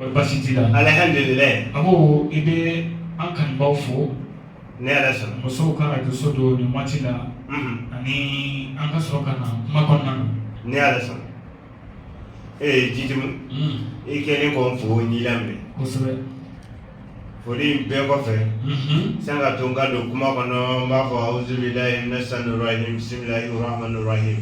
O basi t'i la alihamdulilayi Abu i bɛ an kanubaw fo ni Ala sɔnna musow ka rajoso don nin waati la ani an ka sɔrɔ ka na kuma kɔnɔna na ni Ala sɔnna ee Jidimu i kɛlen k'o fɔ n y'i laminɛ kosɛbɛ foli bɛɛ kɔfɛ san ka to n ka don kuma kɔnɔ n b'a fɔ awuzu bilahi mina shaitani rajim bisimilahi rahmani rahim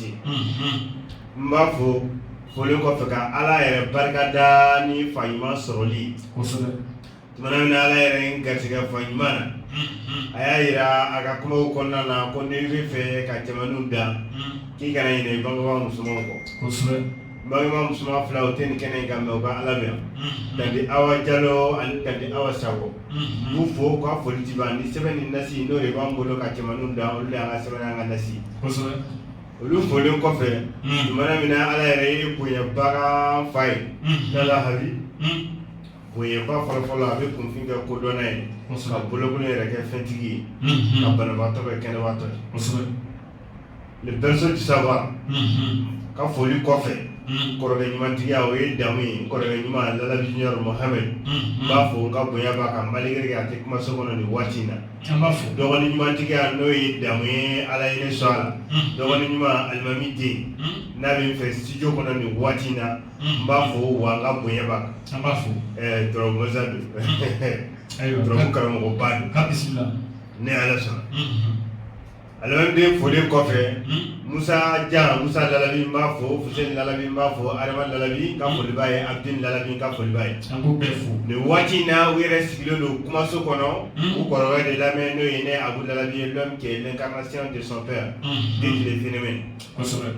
n b'a fɔ foli kɔfɛ ka ala yɛrɛ barika da ni fa ɲuman sɔrɔli tumana min na ala yɛrɛ n garijɛgɛ fa ɲuman na a y'a jira a ka kuma kɔnɔna na ko n'i b'a fɛ ka cɛmanw da k'i kana ɲinɛ i bangebaga musomanw kɔ bangebaa musoman fila o tɛ nin kɛnɛ kan mais u bɛ an lamɛn na tante Awa Jalo ani tante Awa Sako k'u fo k'a foli tɛ ban ni sɛbɛn ni nasi n'o de b'an bolo ka cɛmanw da olu de y'an ka sɛbɛn n'an ka nasi olu folen kɔfɛ tumana min na ala yɛrɛ ye bonyabaga fa ye Lalabi bonyaba fɔlɔfɔlɔ a bɛ kunfin kɛ kodɔnna ye ka bolokolo yɛrɛ kɛ fɛntigi ye ka banabaatɔ kɛ kɛnɛbaatɔ ye le berceau du savoir ka foli kɔfɛ kɔrɔkɛ ɲumantigiya o ye damu ye kɔrɔkɛ ɲuman Lalabi Junior Mohamed n b'a fo n ka bonya b'a kan malgré que a tɛ kumaso kɔnɔ nin waati in na an b'a fo dɔgɔnin ɲumantigiya n'o ye damu ye Ala ye ne sɔn a la dɔgɔnin ɲuman alimami den n'a bɛ n fɛ studio kɔnɔ nin waati in na n b'a fo wa n ka bonya b'a kan an b'a fo ɛɛ turabu masa don turabu karamɔgɔba don ni Ala sɔnna. Aden foli kɔfɛ musa ja musa labi b'a fɔ labi b'a fɔ ha labi ka foliba ye a bɛ labi ka foliba ye bɛ waati na u yɛrɛ sigilen don kumaso kɔnɔ u kɔrɔ de lamɛn n'o ye ne a labi ye dɔn kɛ ne ka ka sira desɔnfɛ yan den tile fmɛ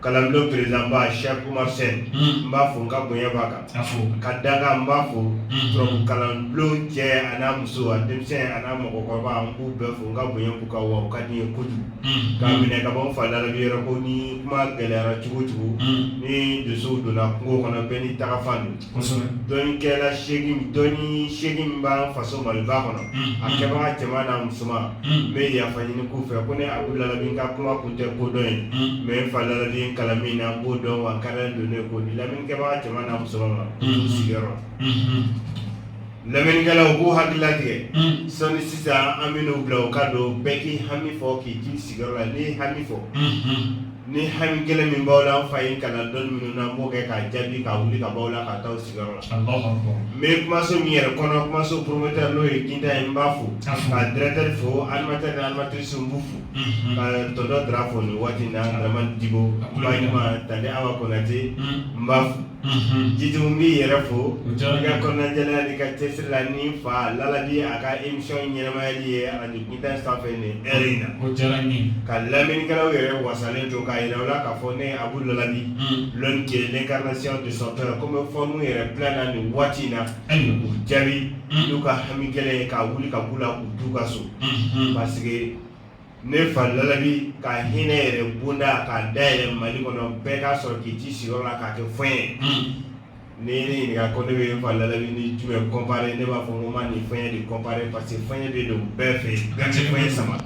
kalanbulon président ba Cheikh Oumar Sène n b'a fo n ka bonya b'a kan a fo ka da kan n b'a fo turabu kalanbulon cɛ a n'a muso a denmisɛn a n'a mɔgɔkɔrɔba n b'u bɛɛ fo n ka bonya b'u kan wa u ka di n ye kojugu k'a minɛ ka bɔ n fa Lalabi yɔrɔ ko ni kuma gɛlɛyara cogo o cogo ni dusuw donna kungo kɔnɔ bɛɛ n'i tagafan don dɔnnikɛla dɔnni seegin min b'an faso maliba kɔnɔ a kɛbaga cɛman n'a musoman n bɛ yafa ɲini k'u fɛ ko ne Abu Lalabi n ka kuma kun tɛ kodɔn ye mais n fa Lalabi kalan min na n b'o dɔn wa n ka dan don ne k'o di lamɛnnikɛbaga cɛman n'a musoman ma u sigiyɔrɔ Lamɛnnikɛlaw u k'u hakili latigɛ sɔnni sisan an bɛ n'u bila u ka don bɛɛ k'i hami fɔ k'i t'i sigiyɔrɔ la n'i ye hami fɔ ni hami gɛlɛn min b'aw la an fa ye kalan dɔnni minnu na an b'o kɛ k'a jaabi ka wuli ka b'aw la k'aw to aw sigiyɔrɔ la n bɛ kumaso min yɛrɛ kɔnɔ kumaso promoteur n'o ye Guintan ye n b'a fo ka directeur fo animateur ni animatrice n b'u fo ka tonton Dra fo nin waati in na Dramane Diko tante Awa Konate n b'a fo Jitumu n b'i yɛrɛ fo i ka kɔnɔnajɛlenya n'i ka cɛsiri la ni n fa lalabi a ka émission ɲɛnamayali ye radio guintan sanfɛ nin heure in na ka lamɛnnikɛlaw yɛrɛ wasalen to k'a yira u la k'a fɔ ne Abu Lalabi l'homme qui est l'incarnation de son père comme fɔ n'u yɛrɛ bila na nin waati in na k'u jaabi n'u ka hami gɛlɛn ye ka wuli ka b'u la k'u t'u ka so parce que ne fa lalabi ka hinɛ yɛrɛ bonda k'a dayɛlɛ mali kɔnɔ bɛɛ k'a sɔrɔ k'i t'i sigiyɔrɔ la k'a kɛ fu ye ni ne ɲininka ko ne bɛ fa lalabi ni jumɛn comparer ne b'a fɔ ko n b'a ni fiɲɛ de comparer parce que fiɲɛ bɛ don bɛɛ fɛ bɛɛ bɛ fiɲɛ sama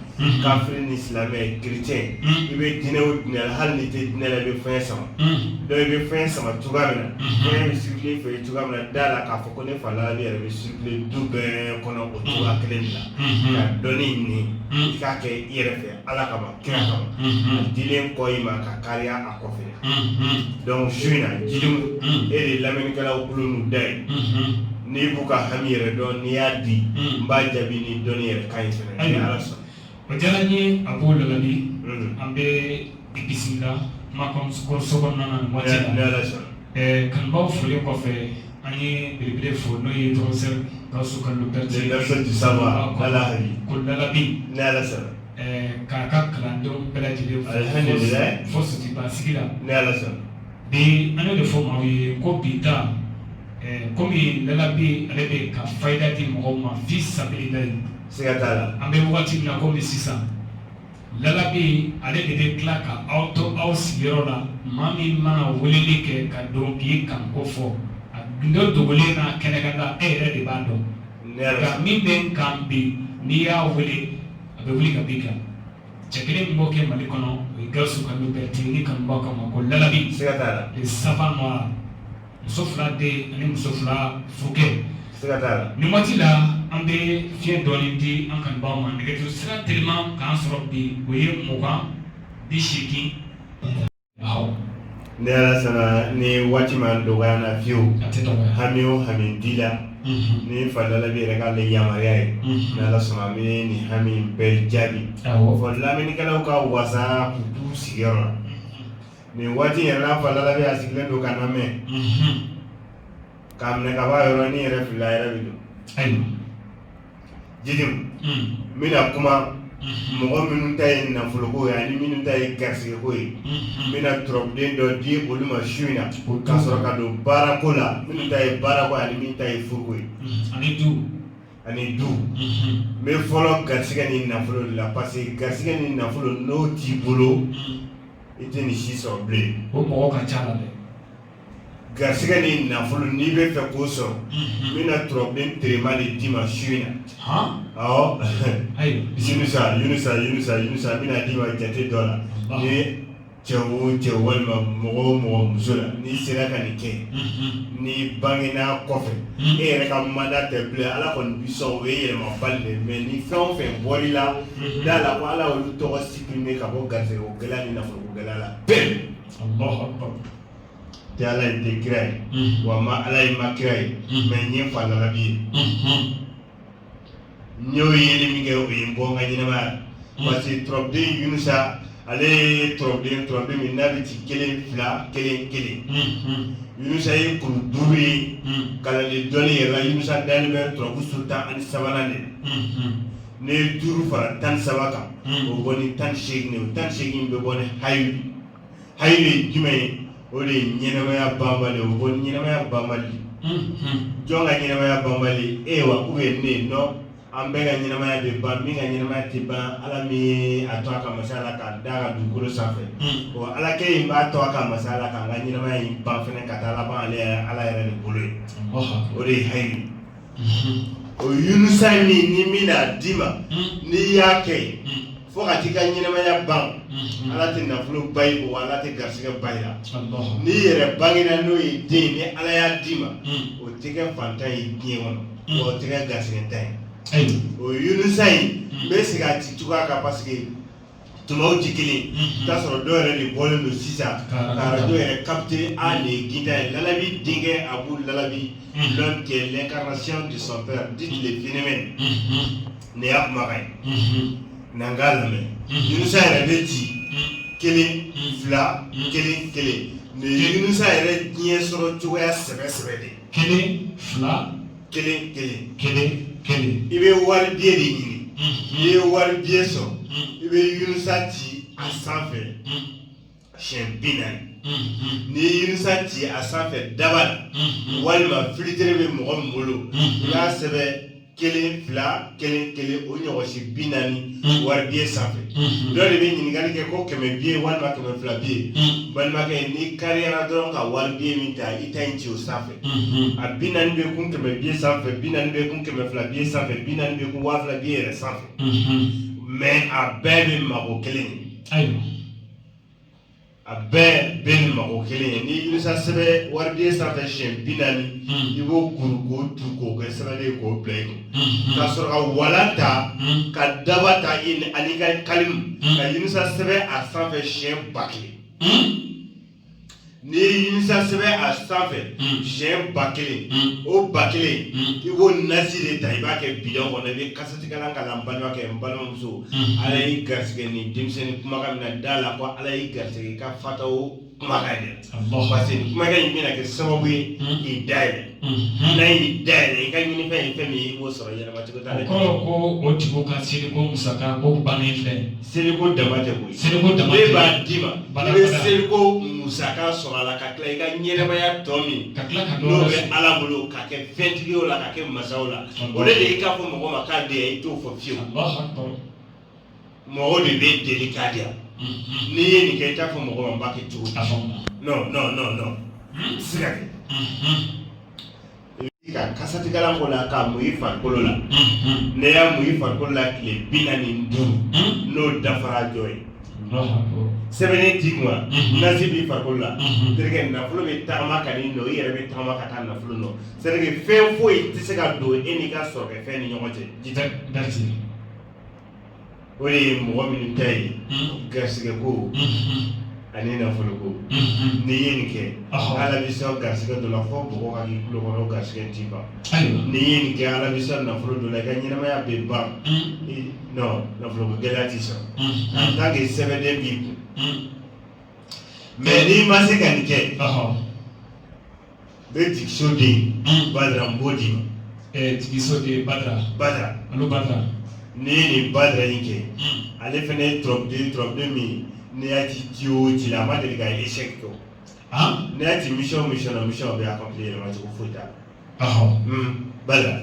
kafiri ni silamɛ chrétien i bɛ diinɛ o diinɛ la hali n'i tɛ diinɛ la i bɛ fiɲɛ sama donc i bɛ fiɲɛ sama cogoya min na fiɲɛ bɛ circuler i fɛ cogoya min na da la k'a fɔ ko ne fa lalabi yɛrɛ bɛ circuler du bɛɛ kɔnɔ o cogoya kelen de la ka dɔnni ɲini i k'a kɛ i yɛrɛ fɛ ala kama kira kama a dilen kɔ i ma ka kariya a kɔfɛ donc su in na Jitumu e de lamɛnnikɛlaw tulo n'u da ye n'i b'u ka hami yɛrɛ dɔn n'i y'a di n b'a jaabi ni dɔnni yɛrɛ kan ye fɛnɛ ni ala sɔnna o diyara n ye Abu Lalabi an bɛ i bisimila kumaso kɔnɔna na nin waati la ni ala sɔnna Ɛɛ kanubaw folen kɔfɛ an ye belebele fo n'o ye professeur Gawusu Kalilu Berete ye le berceau du savoir dans la vie ko lalabi ni Ala sɔnna ɛɛ k'a ka kalandenw bɛɛ lajɛlen fo alihamidulilayi fo Sotuba sigi la ni Ala sɔnna bi an y'o de fɔ maaw ye ko bi ta ɛɛ komi lalabi ale bɛ ka fayida di mɔgɔw ma fi sabililayi siga t'a la an bɛ wagati min na komi sisan Lalabi ale de bɛ tila ka aw to aw sigiyɔrɔ la maa min mana weleli kɛ ka don k'i kanko fɔ a gundo dogolen n'a kɛnɛkanda e yɛrɛ de b'a dɔn nka min b'i kan bi n'i y'a wele a bɛ wuli ka b'i kan cɛ kelen min b'o kɛ mali kɔnɔ o ye Gawusu Kalilu Berete ni kanubaw k'a ma ko lalabi le savant noir muso fila den ani muso fila furukɛ siga t'a la nin waati la an bɛ fiɲɛ dɔɔni di an kanubaaw ma nɛgɛjuru sira teliman k'an sɔrɔ bi o ye mugan bi seegin awɔ ni ala sɔnna ni waati ma dɔgɔya n na fiyewu a tɛ dɔgɔya hami o hami di la Mhm, ni fa lalabi yɛrɛ k'ale yamaruya ye mhm. n'ala sɔnna an bɛ nin hami in bɛɛ jaabi awɔ fɔ lamɛnnikɛlaw ka wasa k'u t'u sigiyɔrɔ la nin waati yɛrɛ la fa lalabi a sigilen don k'an lamɛn k'a minɛ ka b'a yɔrɔ ni yɛrɛ fila yɛrɛ bɛ don jiri n bɛna kuma mɔgɔ minnu ta ye nafoloko ye ani minnu ta ye garisigɛko ye n bɛna turabuden dɔ di olu ma su in na ka sɔrɔ ka don baarako la minnu ta ye baarako ani min ta ye furuko ye ani du ani du n bɛ fɔlɔ garisigɛ ni nafolo de la parce que garisigɛ ni nafolo n'o t'i bolo I tɛ nin si sɔrɔ bilen o mɔgɔ ka ca la dɛ garisigɛ ni nafolo n'i bɛ fɛ k'o sɔrɔ n bɛna turabuden teriman de d'i ma su in na awɔ yunusa n bɛna d'i ma jate dɔ la ni cɛ o cɛ walima mɔgɔ o mɔgɔ muso la n'i sera ka nin kɛ n'i bangena kɔfɛ e yɛrɛ ka manda tɛ bilen ala kɔni bi o ye yɛlɛmabali de mais ni fɛn o fɛn bɔr'i da la ko ala olu tɔgɔ sup primer ka bɔ garisigɛko gɛlɛya ni nafoloko gɛlɛya la tɛ ala ye tɛ kira ye mm-hmm. wa ma ala ye ma kira ye mm-hmm. mais n ye fa lalabi ye mm-hmm. n y'o yeli min kɛ o ye n bɔ n ka ɲɛnamaya parce que tɔrɔbuden yunusa ale ye tɔrɔbuden tɔrɔbuden min n'a bɛ ci kelen fila kelen kelen yunusa ye kuru duuru ye kalanden dɔnni yɛrɛ la yunusa dalen bɛ tɔrɔbu su tan ani sabanan de la n'i ye duuru fara tan ni saba kan hmm. o bɔ ni tan ni segin o tan ni segin bɛ bɔ ni hayi hayi ye jumɛn ye o de ye ɲɛnamaya banbali o bɔ ni ɲɛnamaya banbali hmm, hmm. jɔn ka ɲɛnamaya banbali e wa ou bien ne non an bɛɛ ka ɲɛnamaya bɛ ban min ka ɲɛnamaya tɛ ban ala min ye a to a ka masaya la k'an da ka dugukolo sanfɛ o ala kelen b'a to a ka masaya la k'an ka ɲɛnamaya in ban fɛnɛ ka taa laban ale ala yɛrɛ de bolo ye o de ye hayi o Yunusa ye min ni n bɛn'a d'i ma n'i y'a kɛ fo ka t'i ka ɲɛnamaya ban Ala tɛ nafolo ban i bolo Ala tɛ garisigɛ ban i la n'i yɛrɛ bangena n'o ye den ni Ala y'a d'i ma o tɛ kɛ fantan ye diɲɛ kɔnɔ wa o tɛ kɛ garisigɛntan ye o Yunusa in n bɛ segin a ci cogoya kan parce que tumaw tɛ kelen t'a sɔrɔ dɔw yɛrɛ de bɔlen don sisan ka arajo yɛrɛ capter ale ye ginta ye lalabi denkɛ abu lalabi l'homme qui est l'incarnation de son père dit le phénomène nin y'a kumakan ye n'an k'a lamɛn yunusa yɛrɛ bɛ ci kelen fila kelen kelen nin ye yunusa yɛrɛ diɲɛ sɔrɔ cogoya sɛbɛ sɛbɛ de kelen fila kelen kelen kelen kelen i bɛ wari biye de ɲini n'i ye wari biye sɔrɔ i bɛ yirisa ci a sanfɛ siɲɛ bi naani n'i ye yirisa ci a sanfɛ daba la walima filitere bɛ mɔgɔ min bolo i b'a sɛbɛn kelen fila kelen kelen o ɲɔgɔn siɲɛ bi naani wari biye sanfɛ dɔ de bɛ ɲininkali kɛ ko kɛmɛ biye walima kɛmɛ fila biye balimakɛ n'i kariyara dɔrɔn ka wari biye min ta i ta in ci o sanfɛ mhm. a bi naani bɛ kun kɛmɛ biye sanfɛ bi naani bɛ kun kɛmɛ fila biye sanfɛ bi naani bɛ kun waa fila biye yɛrɛ sanfɛ mhm. mais a bɛɛ bɛ mago kelen ɲɛ ayiwa a bɛɛ bɛ nin mago kelen ɲɛ n'i yirisa sɛbɛn wari biye sanfɛ siɲɛ bi naani mhm. i b'o kuru k'o tu k'o kɛ sɛbɛn ye k'o bila i kun ka sɔrɔ ka walan ta ka daba ta ani ka kalimu ka yirisa sɛbɛn a sanfɛ siɲɛ ba kelen N'i ye yirisa sɛbɛn a sanfɛ siɲɛ ba kelen o ba kelen i b'o nasi de ta i b'a kɛ bidon kɔnɔ i bɛ kasatigɛlan k'a la n balimakɛ n balimamuso ala y'i garisɛgɛ nin denmisɛnnin kumakan min n'a da la ko ala y'i garisɛgɛ i ka fata o kumakan ɲɛ parce que kumakan in bɛna kɛ sababu ye k'i da yɛlɛ Mhm. n'a y'i da yɛlɛ i ka ɲini fɛn ye fɛn min ye i b'o sɔrɔ yɛlɛma cogo t'a la O kɔrɔ ko o tigiw ka seliko musaka ko bannen filɛ. seliko dama tɛ koyi Seliko dama tɛ. ne b'a d'i ma Bala i bɛ bala. seliko musaka sɔrɔ a la ka tila i ka ɲɛnamaya tɔ min Ka tila ka dɔ n'o wɛrɛ bɛ sɔrɔ. ala bolo ka kɛ fɛntigiw la ka kɛ masaw la o de ye i k'a fɔ mɔgɔ ma k'a di yan i t'o fɔ fiyewu Allahu akbar. mɔgɔ de b'i deli k'a di yan mhm. n'i ye nin kɛ i t'a fɔ mɔgɔ ma n b'a kɛ cogo di non non non non mhm. se ka kɛ mhm. ka kasatigɛlan k'o la k'a mun i farikolo la n'i y'a mun i farikolo la tile bi naani ni duuru n'o dafara jɔ ye sɛbɛnden b'i kun nasi b'i farikolo la terikɛ nafolo bɛ tagama ka n'i nɔ i yɛrɛ bɛ tagama ka taa nafolo nɔ c'est à dire fɛn foyi tɛ se ka don e n'i ka sɔrɔkɛfɛn ni ɲɔgɔn cɛ o de ye mɔgɔ minnu ta ye hmm. garisɛgɛ ko hmm. ani nafolo ko hmm. n'i ye nin kɛ ala b'i sɔn garisɛgɛ dɔ la fɔ bɔgɔ ka k'i tulo kɔnɔ garisɛgɛ tɛ ban n'i ye nin kɛ ala b'i sɔn nafolo dɔ la i ka ɲɛnamaya bɛ ban non nafolo ko gɛlɛya t'i sɔrɔ en tant que sɛbɛnden b'i kun mais n'i ma se ka nin kɛ Bɛ jigiso den badara n b'o d'i ma jigiso den badara badara alu badara n'i ye nin badara in kɛ ale fana ye turabuden min n'i y'a ci ci o ci la a ma deli ka échec kɛ n'i y'a ci mission na mission bɛ accomplir yɛlɛmacogo foyi t'a la badara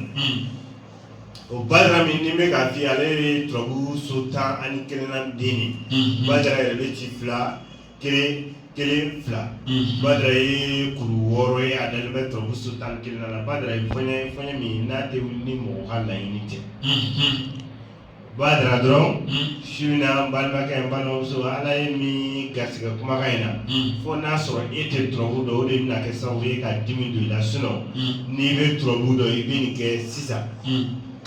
o badara min ne bɛ k'a f'i ye ale ye turabu so tan ani kelennan den de badara yɛrɛ bɛ ci fila kelen kelen fila mhm. badara ye kuru wɔɔrɔ ye a dalen bɛ tɔrɔbuso tan kelen na la badara ye fɔɲɛ fɔɲɛ min n'a tɛ wuli ni mɔgɔ ka laɲini tɛ mhm. badara dɔrɔn mhm. su in na n balimakɛ n balimamuso ala ye min garisɛgɛ kumakan in na fo n'a sɔrɔ e tɛ tɔrɔbu dɔn o de bɛna kɛ sababu ye ka dimi don i la sinon n'i bɛ tɔrɔbu dɔn i bɛ nin kɛ sisan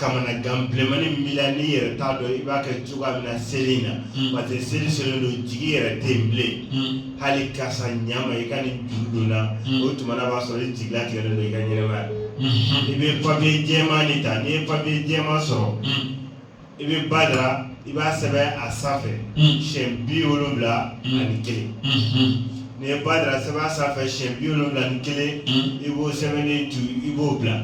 kamanagan bilenmani min b'i la n'i yɛrɛ t'a dɔn i b'a kɛ cogoya min na seli in na hmm. parce que seli selen don jigi yɛrɛ tɛ yen bilen hmm. hali karisa ɲama i ka nin juru don na hmm. o tuma na b'a sɔrɔ i jigilatigɛlen don i ka ɲɛnɛmaya i bɛ papiye jɛman de ta n'i ye papiye jɛman sɔrɔ i bɛ badara i b'a sɛbɛn a sanfɛ siyɛn bi wolonwula ani kelen n'i ye badara sɛbɛn a sanfɛ siyɛn bi wolonwula ni kelen i b'o sɛbɛnnen to i b'o bila.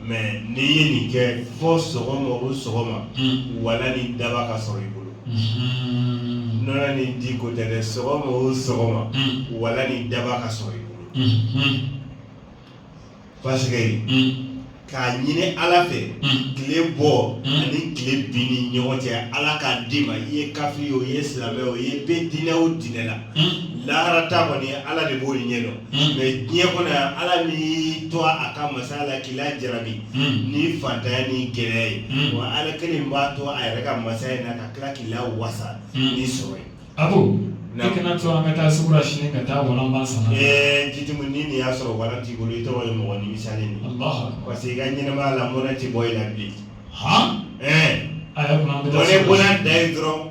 mais n'i ye nin kɛ fo sɔgɔma o sɔgɔma hmm. wala ni daba ka sɔrɔ i bolo hmm. nɔnɔ ni di ko tɛ dɛ sɔgɔma o sɔgɔma hmm. wala ni daba ka sɔrɔ i bolo parce que k'a ɲini ala fɛ tile bɔ ani tile bin ni ɲɔgɔn cɛ ala k'a d'i ma i ye kafiri o i ye silamɛ o i ye bɛ diinɛ o diinɛ la lahara ta kɔni ala de b'o ɲɛ dɔn mais diɲɛ kɔnɔ yan ala n'i to a ka masaya la k'i lajarabi ni fantanya ni gɛlɛya ye wa ala kelen b'a to a yɛrɛ ka masaya in na ka tila k'i lawasa ni sɔrɔ ye a ko ne kana to an ka taa sugu la sini ka taa walan ban sana ɛɛ jitimu ni nin y'a sɔrɔ walan t'i bolo i tɔgɔ ye mɔgɔ nimisalen ye parce que i ka ɲɛnɛmaya la mɔnɛ tɛ bɔ i la bilen han ɛɛ a y'a kun an bɛ taa sugu la sini bɔnɛ bɔnɛ da ye dɔrɔn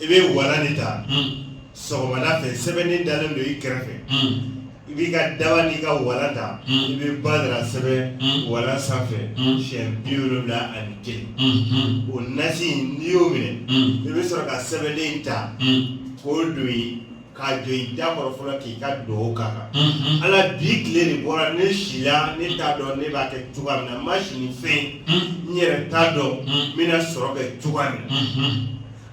i bɛ walan de ta sɔgɔmada fɛ sɛbɛnnen dalen don i kɛrɛfɛ i b'i ka daba n'i ka walan ta i bɛ badara sɛbɛn walan sanfɛ siyɛn bi wolonwula ani kelen o nasi n'i y'o minɛ i bɛ sɔrɔ ka sɛbɛnden ta k'o don yen k'a jɔ i da kɔrɔ fɔlɔ k'i ka dugawu k'a kan Unhun. ala bi tile de bɔra ne sila ne t'a dɔn ne b'a kɛ cogoya min na n ma si ni fɛn Unhun. n yɛrɛ t'a dɔn Mm. n bɛna sɔrɔ kɛ cogoya min na Unhun.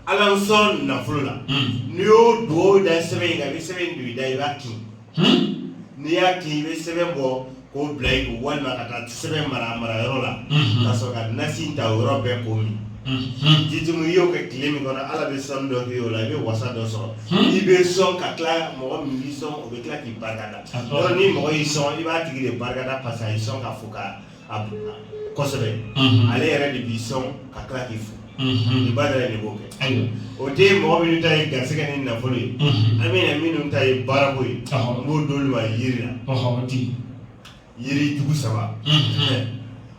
ala n sɔn nafolo la Mm. n'i y'o dugawu da sɛbɛn in kan i bɛ sɛbɛn in don i da i b'a kin Unhun. n'i y'a kin i bɛ sɛbɛn bɔ K'o bila i kun walima ka taa sɛbɛn mara a mara yɔrɔ la unhun ka sɔrɔ ka nasi in ta o yɔrɔ bɛɛ k'o min unhun jitumu i y'o kɛ tile min kɔnɔ Ala bɛ sɔnni dɔ k'i ye o la i bɛ wasa dɔ sɔrɔ hun i bɛ sɔn ka tila mɔgɔ min b'i sɔn o bɛ tila k'i barikada a tɔ yɔrɔ ni mɔgɔ y'i sɔn i b'a tigi de barikada parce que a y'i sɔn k'a fo k'a bonya kosɛbɛ unhun ale yɛrɛ de b'i sɔn ka tila k'i fo unhun, Badara de b'o kɛ, ayiwa, o tɛ mɔgɔ minnu ta ye garisigɛ ni nafolo ye, unhun, an bɛna minnu ta ye baarako ye, ɔhɔ, n b'o d'olu ma yiri la, ɔhɔ, o tɛ yen, yiri jugu saba, unhun,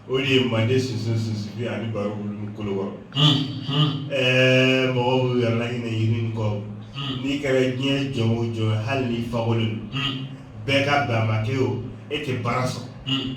o de ye mande sunsun sunsubi ani baro bulu ni kolo kɔrɔ, unhun, ɛɛ mɔgɔw b'u yɛrɛ laɲinɛ yiri in kɔ, un, n'i kɛra diɲɛ jɔn o jɔn ye hali n'i fakolen don, un, bɛɛ ka bɛn a ma k'e o e tɛ baara sɔrɔ, un.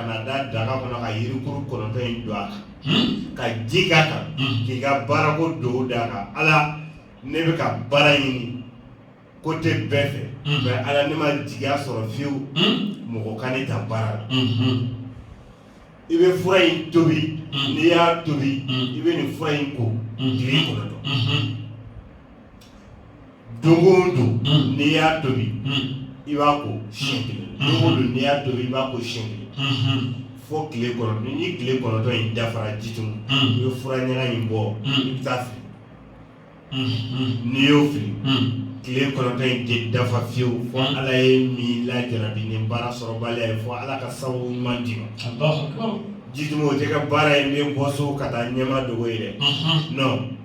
ka na da daga kɔnɔ ka yirikuru kɔnɔntɔn in don a kan hmm? ka ji k'a kan hmm. k'i ka baarako don d'a kan ala ne bɛ ka baara ɲini côté bɛɛ fɛ hmm. mais ala ne ma jigiya sɔrɔ fiyewu mɔgɔ ka ne ta baara la i bɛ fura in tobi n'i y'a tobi i bɛ nin fura in ko tile kɔnɔntɔn don o don mm. n'i y'a tobi mm. i b'a ko siɲɛ kelen mm. don o don n'i y'a tobi i b'a ko siɲɛ kelen mm-hmm. fo tile kɔnɔntɔn ni tile kɔnɔntɔn in dafara jitumu i bɛ fura ɲaga in bɔ i bɛ taa fili mm-hmm. n'i y'o fili tile kɔnɔntɔn in tɛ dafa fiyewu fo ala ye min lajarabi ni baara sɔrɔbaliya ye fo ala ka sababu ɲuman d'i ma jitumu o tɛ ka baara in bɛ bɔ so ka taa ɲɛma dogo ye dɛ non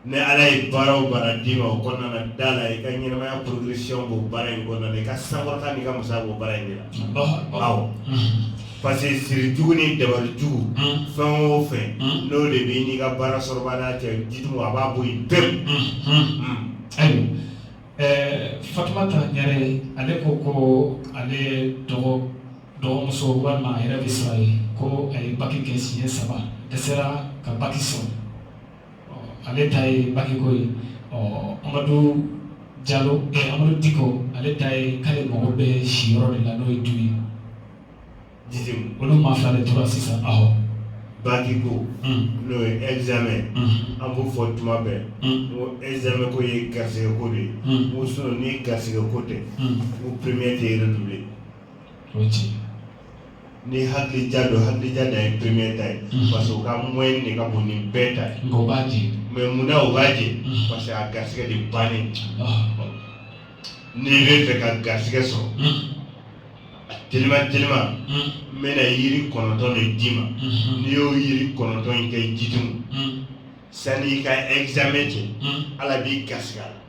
ni ala ye baara o baara d'i ma o kɔnɔna na da la i ka ɲɛnamaya progression b'o baara in kɔnɔna na i ka sankɔrɔta n'i ka musaka b'o baara in de la awɔ parce que siri jugu ni dabali jugu fɛn o fɛn n'o de b'i n'i ka baara sɔrɔbaliya cɛ jitumu a b'a bɔ yen pewu ayiwa ɛɛ fatumata ɲare ale ko ko ale dɔgɔ dɔgɔmuso walima a yɛrɛ bɛ sira ye ko a ye baki kɛ siɲɛ saba dɛsɛra ka baki sɔrɔ ale ta ye bakiko ye ɔ amadu jalo ɛ amadu diko ale ta ye k'ale mago bɛ siyɔrɔ de la n'o ye du ye jitumu olu maa fila de tora sisan awɔ bakiko n'o ye examen an b'o fɔ tuma bɛɛ n ko examen ko ye garisɛgɛ ko de ye n ko sinon ni garisɛgɛ ko tɛ n ko premier tɛ redoubler o ye tiɲɛ ye Ni hakili ja don hakili ja dan ye premier ta ye unhun parce que o ka moyenne de ka bon ni bɛɛ ta ye nka u b'a jɛ mais mun na o b'a jɛ unhun parce que a garisɛgɛ de bannen Alahu akibaru n'i bɛ fɛ ka garisɛgɛ sɔrɔ unhun a telima telima unhun n bɛna yiri kɔnɔntɔn de d'i ma unhun n'i y'o yiri kɔnɔntɔn in kɛ jitumu unhun sani i ka examen cɛ unhun Ala b'i garisɛgɛ a la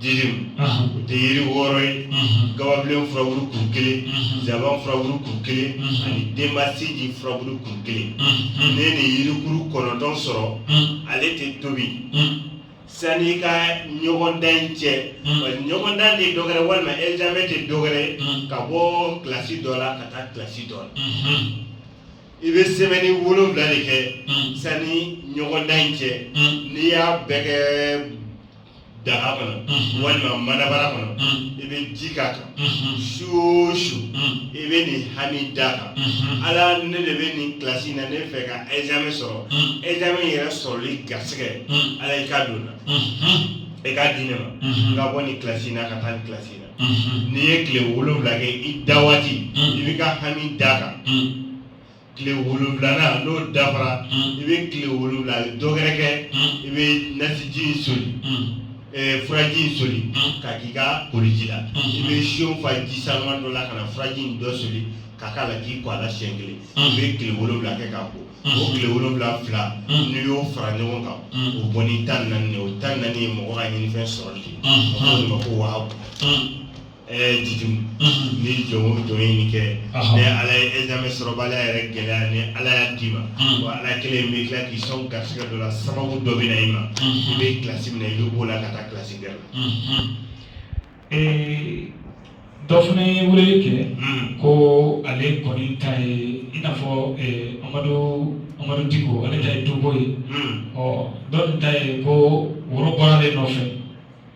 jitumu o tɛ yiri wɔɔrɔ ye gababilen furabulu kuru kelen zaban furabulu kuru kelen ani denbasinji furabulu kuru kelen ne ni yirikuru kɔnɔntɔn sɔrɔ ale tɛ tobi sani i ka ɲɔgɔndan in cɛ ɲɔgɔndan tɛ dɔgɛrɛ walima ɛzame tɛ dɔgɛrɛ ka bɔ kilasi dɔ la ka taa kilasi dɔ la i bɛ sɛbɛnni wolonwula de kɛ sani ɲɔgɔndan in cɛ n'i y'a bɛɛ kɛ daga kɔnɔ walima manabara kɔnɔ i bɛ ji k'a kan su o su i bɛ nin hami d'a kan ala ne de bɛ nin kilasi na ne fɛ ka ɛzame sɔrɔ ɛzame yɛrɛ sɔrɔli garisɛgɛ ala i k'a don na i k'a di ne ma n ka bɔ nin kilasi na ka taa nin kilasi na n'i ye tile wolonwula kɛ i da waati i bɛ ka hami d'a kan tile wolonwulana n'o dafara i bɛ tile wolonwula dɔgɛrɛ kɛ i bɛ nasiji in soli furaji in soli ka k'i ka koliji la i bɛ siyon fa ji sanuma dɔ la ka na furaji in dɔ soli ka k'a la k'i ko a la siɲɛ kelen i bɛ tile wolonwula kɛ k'a ko o tile wolonwula fila n'i y'o fara ɲɔgɔn kan o bɔ ni tan naani ye o tan naani ye mɔgɔ ka ɲinifɛn sɔrɔli de ye o de ma ko wahabu ɛɛ jitumu ni jɔn o jɔn ye nin kɛ ni ala ye ɛzame sɔrɔbaliya yɛrɛ gɛlɛya ni ala y'a d'i ma wa ala kelen bɛ tila k'i sɔn garisɛgɛ dɔ la sababu dɔ bɛ na i ma i bɛ kilasi min na i bɛ b'o la ka taa kilasi gɛrɛ la. dɔ fana ye weleli kɛ ko ale kɔni ta ye i n'a fɔ amadu amadu diko ale ta ye duko ye ɔ dɔ ta ye ko woro bɔra ale nɔfɛ.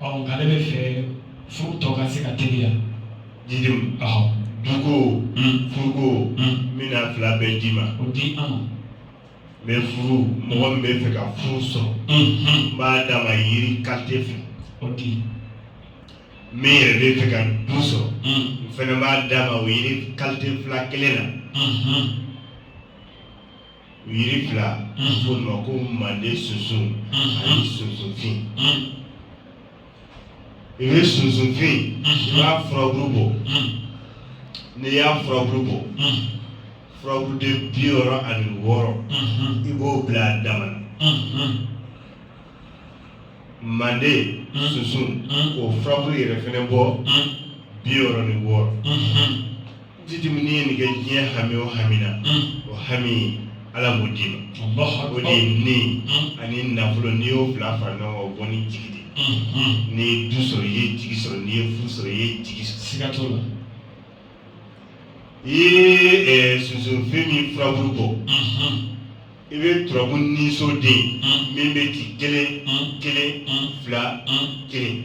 Ɔ nka ale bɛ fɛ furu tɔ ka se ka teliya. Jitumu. Ɔhɔn. Duko. Un. Furuko. Un. N bɛna fila bɛɛ d'i ma. O di an ma. Mais furu mɔgɔ min bɛ fɛ ka furu sɔrɔ. Unhun. N b'a d'a ma yiri qualité fila. O di. Min yɛrɛ bɛ fɛ ka du sɔrɔ. Un. N fana b'a d'a ma o yiri qualité fila kelen na. Unhun. yiri fila f'o ma ko manden sunsun ani sunsunfin i bɛ sunsunfin i b'a furabulu bɔ n'i y'a furabulu bɔ furabuluden bi wɔɔrɔ ani wɔɔrɔ i b'o bila a dama na manden sunsun k'o furabulu yɛrɛ fɛnɛ bɔ bi wɔɔrɔ ni wɔɔrɔ. jitumu min ye nin kɛ diɲɛ hami o hami na o hami ala b'o d'i ma o de ye ni ani nafolo n'i y'o fila fara ɲɔgɔn kan o bɔ ni jigi de n'i ye du sɔrɔ i ye jigi sɔrɔ n'i ye furu sɔrɔ i ye jigi sɔrɔ siga t'o la i ye sunsunfin min furabulu bɔ i bɛ turabu niso den min bɛ ci kelen kelen fila kelen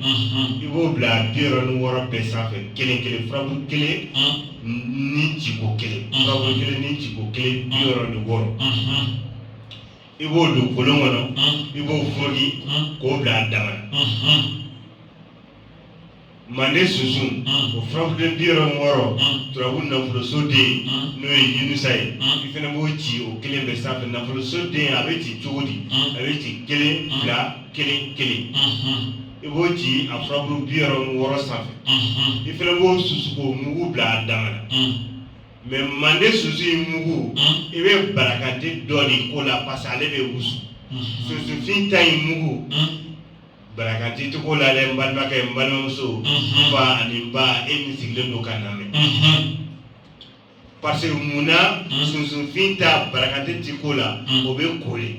i b'o bila bi wɔɔrɔ ni wɔɔrɔ bɛɛ sanfɛ kelen kelen furabu kelen ni ciko kelen furabu kelen ni ciko kelen bi wɔɔrɔ ni wɔɔrɔ i b'o don kolon kɔnɔ i b'o foroki k'o bila a dama Manden sunsun o furabu bi wɔɔrɔ ni wɔɔrɔ turabu nafoloso den n'o ye yunusa ye i fana b'o ci o kelen bɛɛ sanfɛ nafoloso den a bɛ ci cogo di a bɛ ci kelen fila kelen kelen i b'o ci a furabu bi wɔɔrɔ ni wɔɔrɔ sanfɛ i fana b'o susu k'o mugu bila a dama na mais manden sunsun in mugu i bɛ barakante dɔ de k'o la parce que ale bɛ wusu sunsunfin ta in mugu barakante tɛ k'o la dɛ n balimakɛ n balimamuso n fa ani n ba e min sigilen don ka n lamɛn parce que mun na sunsunfin ta barakante tɛ k'o la o bɛ ko de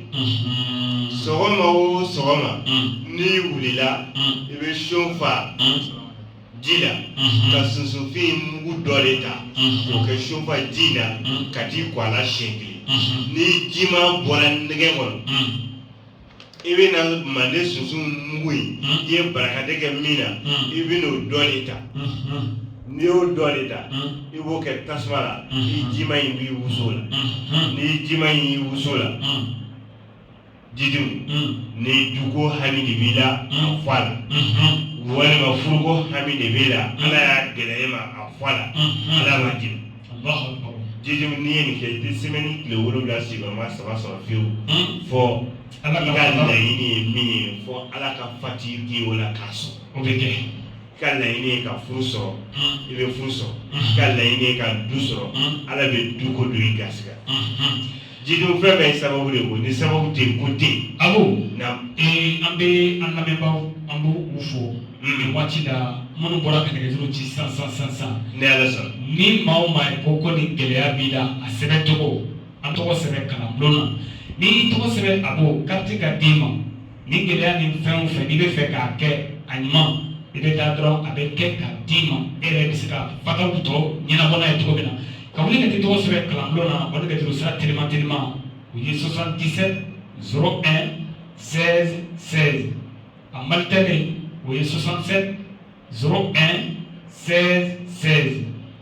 sɔgɔma o sɔgɔma n'i wulila i bɛ siyo fa ji la ka sunsunfin mugu dɔ de ta k'o kɛ siyo fa ji la ka t'i ko a la siɲɛ kelen n'i jima bɔra ɲɛgɛn kɔnɔ i bɛ na manden sunsun mugu in i ye barakante kɛ min na i bɛ n'o dɔ de ta n'i y'o dɔ de ta i b'o kɛ tasuma la i jima in b'i wusu o la n'i jima in y'i wusu o la jidimu ni duko hami de b'i la a fɔ a la walima furuko hami de b'i la ala y'a gɛlɛya e ma a fɔ a la ala ma jigin jidimu n'i ye nin kɛ i tɛ sɛmɛni tile wolowula sigiyɔrɔma saba sɔrɔ fiyewu fɔ i ka laɲini ye min ye fɔ ala ka fati k'i o la k'a sɔrɔ o bɛ kɛ i ka laɲini ye ka furu sɔrɔ i bɛ furu sɔrɔ i ka laɲini ye ka du sɔrɔ ala bɛ du ko don i garisigɛ Jidimu fɛn bɛɛ ye sababu de ko ni sababu tɛ ko tɛ a an bɛ an lamɛnbagaw an b'u fo nin waati la minnu bɔra ka nɛgɛjuru ci san san san san ni ala sɔnna ni maa o maa ye ko ko ni gɛlɛya b'i la a sɛbɛn tɔgɔ an tɔgɔ sɛbɛn kalan bulon na n'i tɔgɔ sɛbɛn a bɔ karti ka d'i ma nin gɛlɛya nin fɛn o fɛn n'i b'a fɛ k'a kɛ a ɲuman i bɛ taa dɔrɔn a bɛ kɛ ka d'i ma e yɛrɛ bɛ se ka fataw tɔ ɲɛnabɔ n'a ye cogo min na ka wuli ka t'i tɔgɔ sɛbɛn kalanbulon na o de kɛtɔ don sira telima telima o ye 77 01 16 16 a malitɛli o ye 67 01 16 16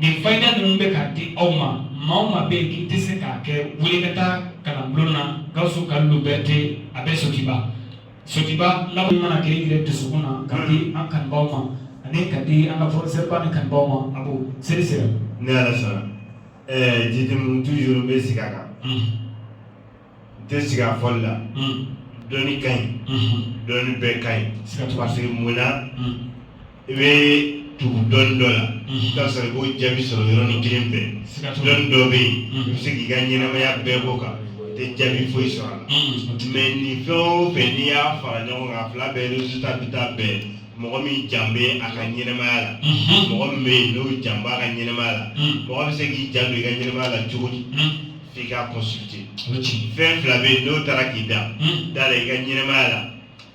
nin fayida ninnu bɛ ka di aw ma maa o maa bɛ yen k'i tɛ se k'a kɛ wuli ka taa kalanbulon na gawusu ka liberté a bɛ sotiba sotiba la mana kɛ yɛrɛ dusukun na ka di an kanubaw ma ani ka di an ka professeur ba ni kanubaw ma a ko seli sera ni ala sɔnna jidimu toujours bɛ sigi a kan tɛ siga a fɔli la dɔnni ka ɲi dɔnni bɛɛ ka ɲi parce que mun na i bɛ tugu dɔnni dɔ la i bɛ sɔrɔ i b'o jaabi sɔrɔ yɔrɔnin kelen pe dɔnni dɔ bɛ yen i bɛ se k'i ka ɲɛnamaya bɛɛ bɔ kan i tɛ jaabi foyi sɔrɔ a la mais nin fɛn o fɛn n'i y'a fara ɲɔgɔn kan a fila bɛɛ résultat bɛ taa bɛn mɔgɔ min jan bɛ a ka ɲɛnamaya la mɔgɔ min bɛ yen n'o jan b'a ka ɲɛnamaya la mɔgɔ bɛ se k'i janto i ka ɲɛnamaya la cogo di f'i k'a consulter o ye tiɲɛ ye fɛn fila bɛ yen n'o taara k'i da Hmm. da la i ka ɲɛnɛmaya la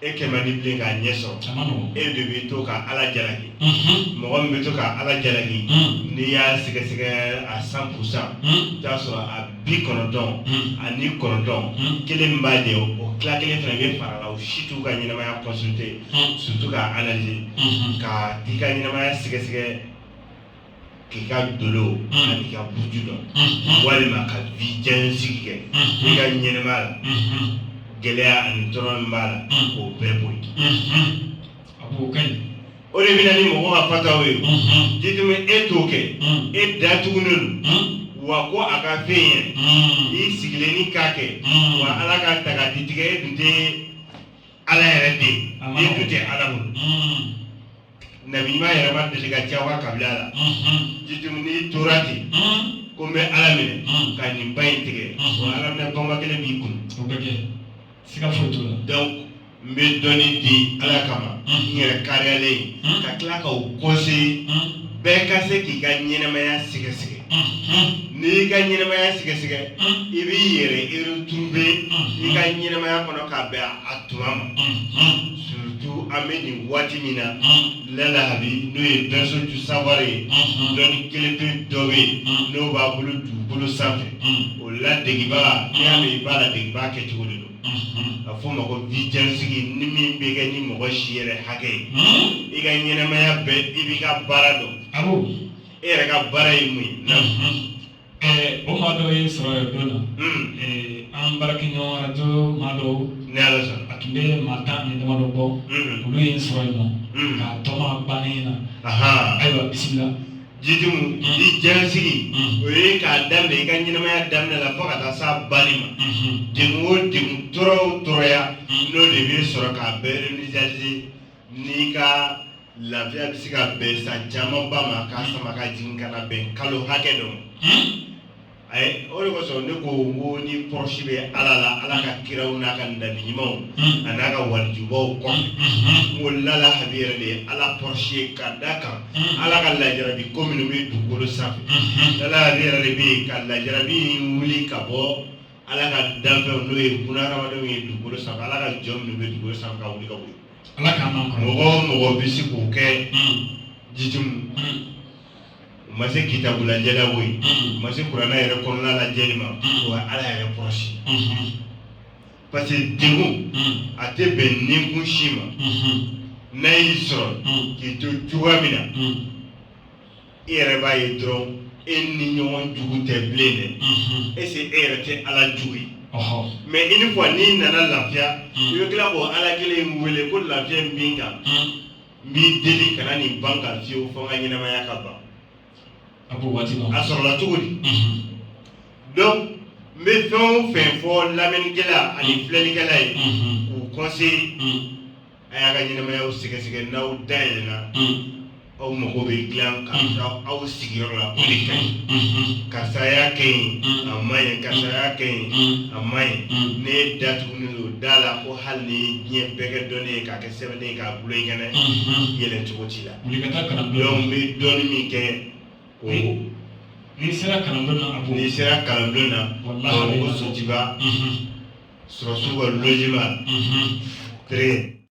e kɛ man di bilen k'a ɲɛ sɔrɔ a ma nɔgɔn e de bɛ to ka ala jalaki Mhm. mɔgɔ min bɛ to ka ala jalaki Hmm. n'i y'a sɛgɛsɛgɛ a cent pour cent Hmm. i bɛ t'a sɔrɔ a bi kɔnɔntɔn Hmm. ani kɔnɔntɔn Hmm. kelen min b'a jɛ o o tila kelen fana bɛ fara a la o si t'u ka ɲɛnɛmaya consulter Hmm. surtout k'a analyser Mhm. ka t'i ka ɲɛnɛmaya sɛgɛsɛgɛ k'i ka dolo ani ka buju dɔn walima ka vie jɛnsigi kɛ i ka ɲɛnɛmaya la gɛlɛya ani tɔɔrɔ min b'a la k'o bɛɛ bɔ yen a b'o kɛ yen o de bɛ na ni mɔgɔ ka fataw ye jitumi e t'o kɛ e datugunen don wa ko a ka fɛn ye n'i sigilen ni k'a kɛ wa ala ka ta ka di tigɛ e dun tɛ ala yɛrɛ den e dun tɛ ala bolo Nabiɲuman yɛrɛ ma deli ka diya a kabila la jitumi n'i tora ten ko n bɛ ala minɛ ka nin ba in tigɛ ala minɛ bɔnba kelen b'i kun siga donc n bɛ dɔnni di ala kama n yɛrɛ kariyalen ka tila k'aw conseiller bɛɛ ka se k'i ka ɲɛnɛmaya sɛgɛsɛgɛ n'i y'i ka ɲɛnɛmaya sɛgɛsɛgɛ i b'i yɛrɛ retrouver i ka ɲɛnɛmaya kɔnɔ ka bɛn a tuma ma surtout an bɛ nin waati min na lala habi n'o ye berceau du savoir ye dɔnni kelen pe dɔ bɛ yen n'o b'a bolo dugukolo sanfɛ o ladegebaga n'i y'a mɛn i b'a ladegebaga kɛcogo de don a fɔ o ma ko vie jɛnsigi ni min bɛ kɛ ni mɔgɔ si yɛrɛ hakɛ ye i ka ɲɛnɛmaya bɛɛ i b'i ka baara dɔn e yɛrɛ ka baara ye mun ye o maa dɔw ye n sɔrɔ yen don na an baarakɛɲɔgɔn arajo maa dɔw ni ala sɔnna a tun bɛ maa tan ni damadɔ bɔ olu ye n sɔrɔ yen nɔ k'a tɔma bannen na ayiwa bisimila jitumi vie jɛnsigi o ye k'a daminɛ i ka ɲɛnamaya daminɛ la fo ka taa s'a banni ma degun o degun tɔɔrɔ o tɔɔrɔya n'o de bɛ sɔrɔ k'a bɛɛ ɲɛsigi N'i ka lafiya bɛ se ka bɛn san camanba ma k'a hmm. sama ka jigin ka na bɛn kalo hakɛ dɔ ma hmm. ayi o de kosɔn ne ko n ko ni proche bɛ ala la ala ka kiraw n'a ka nabi ɲumanw hmm. a n'a ka walijubaw kɔfɛ n ko lala habi yɛrɛ de ye ala proche ye ka da kan ala ka lajarabi ko minnu bɛ dugukolo sanfɛ lala habi yɛrɛ de bɛ yen ka lajarabi in wuli ka bɔ ala ka danfɛnw n'o ye bunahadamadenw ye dugukolo sanfɛ ala ka jɔn minnu bɛ dugukolo sanfɛ ka wuli ka wuli ala k'an man kɔnɔ mɔgɔ o mɔgɔ bɛ se k'o kɛ jitimu u ma se kitabu lajɛ la o ye u ma se kuranɛ yɛrɛ kɔnɔna lajɛli ma o ye ala yɛrɛ kɔrɔsi parce que degun a tɛ bɛn ninkun si ma n'a y'i sɔrɔ k'i to cogoya min na i yɛrɛ b'a ye dɔrɔn e ni ɲɔgɔn jugu tɛ bilen dɛ est-ce que e yɛrɛ tɛ ala jugu ye mais une fois n'i nana lafiya i bɛ tila k'o ala kelen in wele ko lafiya in bɛ n kan n b'i deli kana nin bɔ n kan fiyewu fo n ka ɲɛnamaya ka ban a sɔrɔla cogo di donc n bɛ fɛn o fɛn fɔ lamɛnnikɛla ani filɛlikɛla ye k'u conseiller a y'a ka ɲɛnamayaw sɛgɛsɛgɛ n'aw da yɛlɛna aw mago bɛ dilan ka da aw sigiyɔrɔ la o de ka ɲi karisa y'a kɛ yen a ma ɲɛ karisa y'a kɛ yen a ma ɲɛ ne datugulen don da la ko hali ni diɲɛ bɛɛ kɛ dɔnni ye k'a kɛ sɛbɛnnen ye k'a bulo in kɛnɛ yɛlɛn cogo t'i la donc n bɛ dɔnni min kɛ o n'i sera kalan bulon na a b'o n'i sera kalanbulon na ko sotuba sɔrɔdasiw ka logement très